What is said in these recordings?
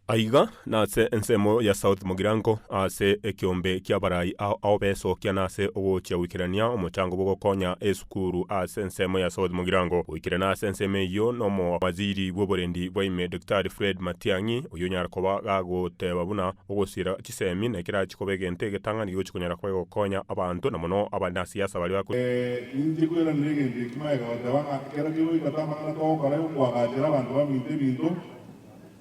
Aiga nase ensemo ya South Mugirango, ase ekeombe ki'abarai ao ao besokia nase ogochia goikerania omochango bw'ogokonya esukuru ase ensemo ya South Mugirango. Goikerana ase ensemo eyio n'omowaziri bw'oborendi bwa ime Daktari Fred Matiang'i, oyio onyara koba gagoteba buna ogosiera chisemi nekerachia koba egento egetang'ani gegochia konyara koba gegokonya abanto na mono abanasiasa baria ba Ninche kweranera egento eki, magega goteba ng'a ekero kegoika tamang'ana togokora yokoagachera abanto baminto ebinto.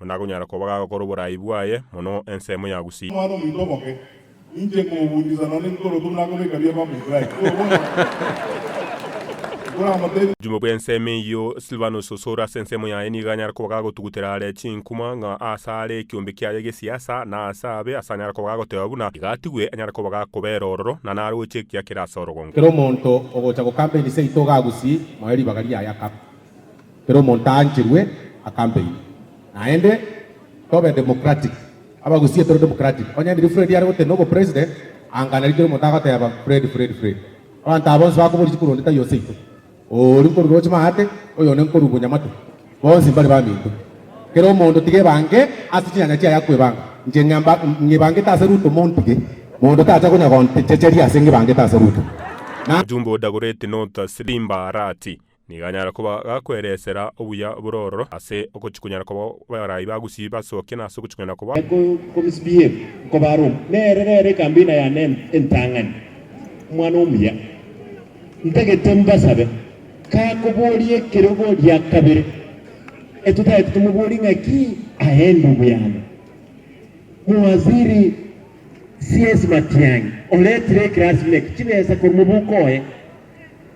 Onde akonyara koba gagokora oboraai bwaye mono ensemo ya gusii. Omwana-omonto oboke, ninche nkogoguchisa nonya nintoroke buna akobeka bia baba Israeli, korwa bono nkoramotebi. Obuchumi bwe ensemo eyio, Silvanus osore ase ensemo yaye nigo anyare koba gagotugutera are chinkuma, ng'a aase aare ekiombe kiaye gesiasa, na aase abe, ase anyare koba gagoteba buna iga atigwe, anyare koba gakobera ororo, na naroche ekiakera ase orogongo. Kera omonto ogocha gokamba enise yaito ga gusii, moe ribaga riaye akaba. Kera omonto aancherwe akampeyia. Naende tobe democratic. Abagusii tore democratic. Onye riria Fred are gotenena obo president, anga nari kera omonto agoteba Fred, Fred, Fred. Abanto aba bonsi bakobori chikuru onde taiyo seito. Oyo oria nkoru roche maate, oyo onde nkoru bo nyamatu. Bonsi mbare baminto. Kera omonto tiga ebange ase chinyanya chiaye akwebanga. Inche ng'emba, ng'ebangete ase Ruto montige. Monto tacha konya gontechecheria ase ng'ebangete ase Ruto. Na. Ojumbe o Dagoretti North ase rimbaara ati, Nigo anyare koba gakweresera obuya bore ororo ase ogochikonyara koba barai ba gusii basokia na ase ogochikonyara koba. Ekomsbf nkoba Roma, nere rero ekambina yane entang'ani, omwana omuya. Ntagete mbasabe, kakoboria ekerogo gia kabere, etotagete tomoborie ng'aki aende oboyando. Mowaziri CS Matiang'i oretire ekerasi buna eke chibesa korwa mobuko oye.